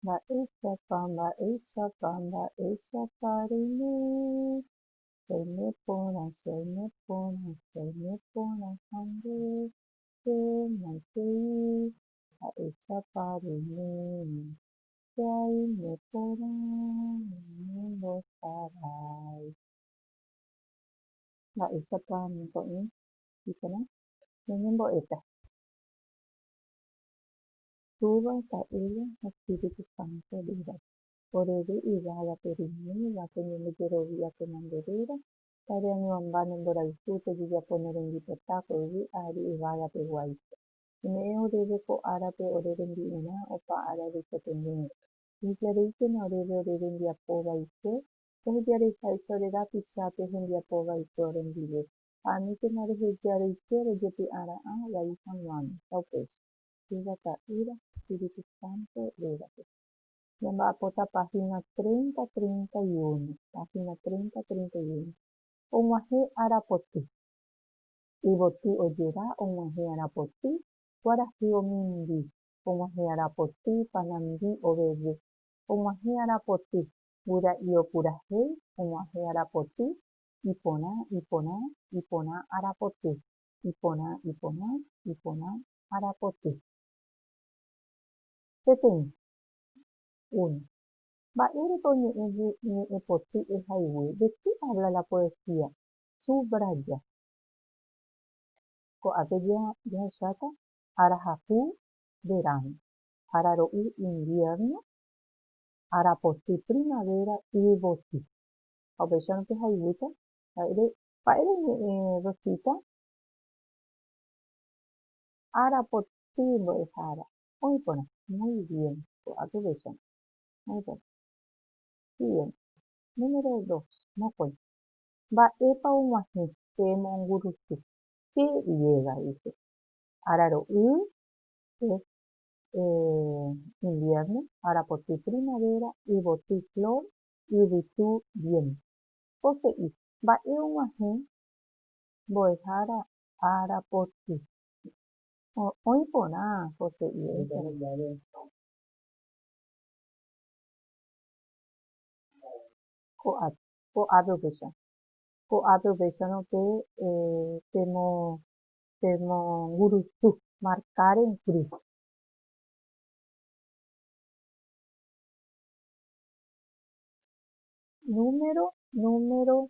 Mba'éichapa, mba'éichapa, mba'éichapa reime, reime porã, che aime porã, che aime porã ha nde, che maitei, mba'éichapa reime, che aime porã ñañembosarái. Mba'éichapa ñako'ẽ iporã ñañembo'éta. Túva, ta'ýra ha Espíritu Santo rýra, orevy yvága pe rimýva, pe ñandejerovi'i apenande rýra, tare añuãmba ne mborayhu, tojejapo ne rembipota ko yvy ári yvága peguáicha. Ome'ẽ oréve ko árape ore rembi'urã opa ára reikotevẽgui. Ehejareíkena oréve ore rembiapo vaikue, ehejareiháicha ore rapicha pe hembiapo vaikue orendive, ha aníkena rehejareike rojepy'ara'ã vai hag̃uáme. Taupéicha. oñe'ẽteva ta'ýra Espíritu Santo rérape. Ñamba'apóta página treinta, treinta y uno, página treinta, treinta y uno. Og̃uahẽ arapoty. Yvoty ojera og̃uahẽ arapoty, kuarahy omimbi, og̃uahẽ arapoty, panandi oveve, og̃uahẽ arapoty, guyra'i opurahéi, og̃uahẽ arapoty, iporã, iporã, iporã arapoty, iporã, iporã, iporã arapoty. Peteĩ. Uno. Mba'érepa oñe'ẽ ñe'ẽpoty ehaygue? ¿De qué habla la poesía? Subraya. Ko'ápe jahecháta arahapu, verano, araro'y, invierno, arapoty, primavera, yvoty. Ha upéicharõ pehayguýta mba'ére. Mba'ére oñe'ẽ Rosita? Ára potĩ mbo'ehára. Oĩ porã. Muy bien. Ko'águi upéicharõ. Oĩ porã. Siguiente. Número dos. Mokõi. Mba'épa og̃uahẽ che mongurusu. Che llega, dice. Ára ro'y es invierno, ára potĩ primavera, yvoty flor, yvytu viento. Pose'i. Mba'e og̃uahẽ mbo'ehára Arapoti. Oĩ porã José iréicha. Ko'ápe upéicha. Ko'ápe upéicharõ pe pemongurusu, marcar en cruz. Número, número,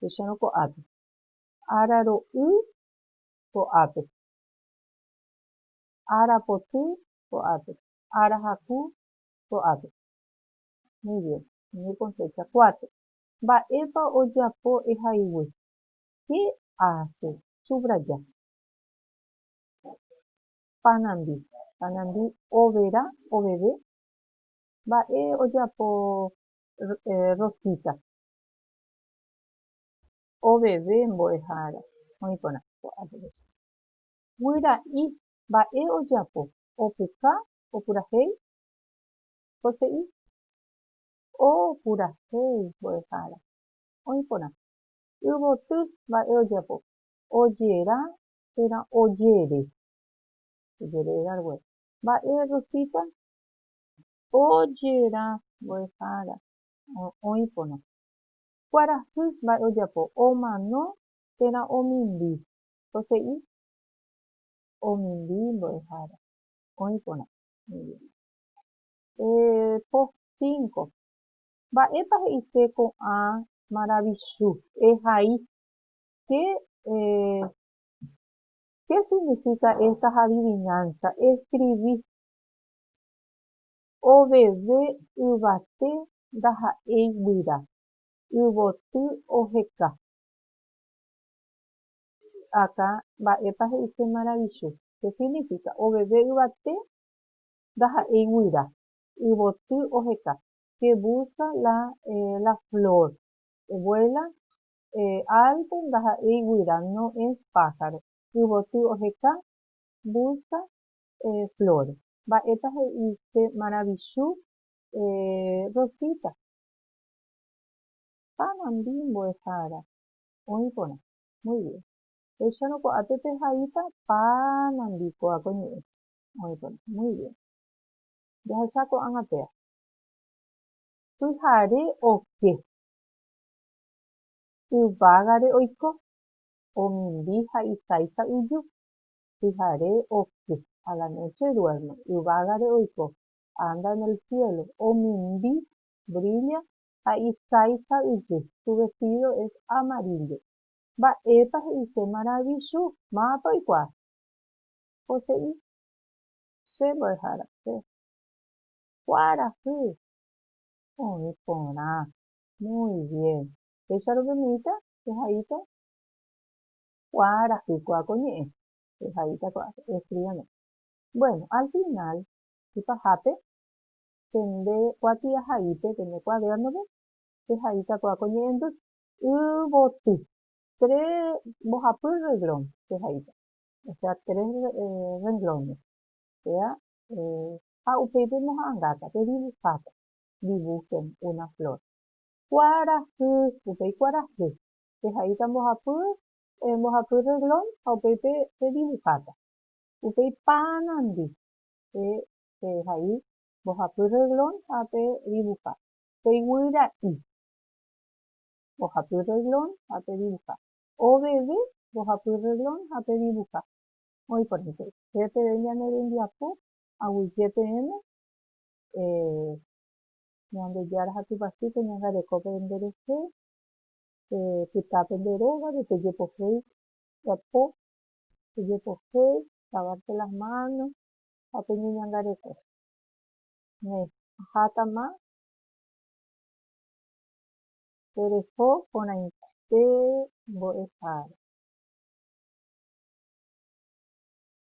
techérõ ko'ápe. Araro'y ko'ápe. Arapoty ko'ápe. Arahaku ko'ápe. Muy bien. Umi konsécha kuátre. Mba'épa ojapo ehaygui? Che aase subraya. Panandi. Panandi overa, oveve. Mba'e ojapo Rosita. Oveve mbo'ehára oĩ porã ko adolescente. Guyra'i mba'e ojapo, opuka, opurahéi? Jose'i, Opurahéi mbo'ehára oĩ porã. Yvoty mba'e ojapo, ojera térã ojere. Ojere rague. Mba'e Rosita? Ojera mbo'ehára oĩ porã. Kuarahy mba'e ojapo, omano térã omimbi. Ko he'i omimbi mbo'ehára, oĩ porã. Po cinco, Mba'épa he'ise ko'ã maravichu? Ehai. Qué significa estas adivinanzas? Escribí. Oveve yvate ndaha'éi guyra, yvoty oheka. Akã, mba'épa he'ise maravichu? Che signifika, oveve yvate ndaha'éi guyra, yvoty oheka. Que busca la la flor, vuela alto ndaha'éi guyra, no es pájaro. Yvoty oheka, busca Flores. Mba'épa he'i che maravichu Rosita. Ha nandi mbo'ehára oĩ porã. Muy bien. Péicharõ ko'ápe pehaíta pa nandi kóva ko ñe'ẽ oĩ porã. Muy bien. Jahecha ko'ág̃a péa. Pyhare oke. Yvágare oiko. Omimbi ha isáicha yju. pyhare oky, a la noche duerme, yvágare oiko, anda en el cielo, omimbi, brilla, ha isáifa ijy, su vestido es amarillo. Mba'épa he'ise maravichu? Mávapa oikuaa? Ko he'i, Che mbo'ehára, che kuarahy oĩ porã. Muy bien. Péicha rupi miita, pehaíta. kuaarahýko ha ko ñe'ẽ pehaíta ko'ápe escríbame bueno al final y pahápe pende kuatiahaípe pende cuadernope pehaíta ko'a ko ñe'ẽndy yvoty tres mbohapy reglón pehaíta o sea tres renglones sea ha upéi pemoha'ãngáta pedibujáta dibujen una flor kuarahy upéi kuarahy Pehaíta mbohapy, mbohapy reglón ha upéi pedivuháta. Upéi paranandi pehai mbohapy reglón ha pedivuha. Peguýra'i mbohapy reglón ha pedivuha. Oveve mbohapy reglón ha pedivuha. Oĩ porãite, che peve ñane rembiapo aguyje peẽme Ñandejára ha Tupãsy peñangarekópe nderehe, Pe pytã pende rógape pejepohéi guapo, pejepohe, lavarse las manos ha peñeñangareko. Ne, ahátama pereho porãite mbo'ehára.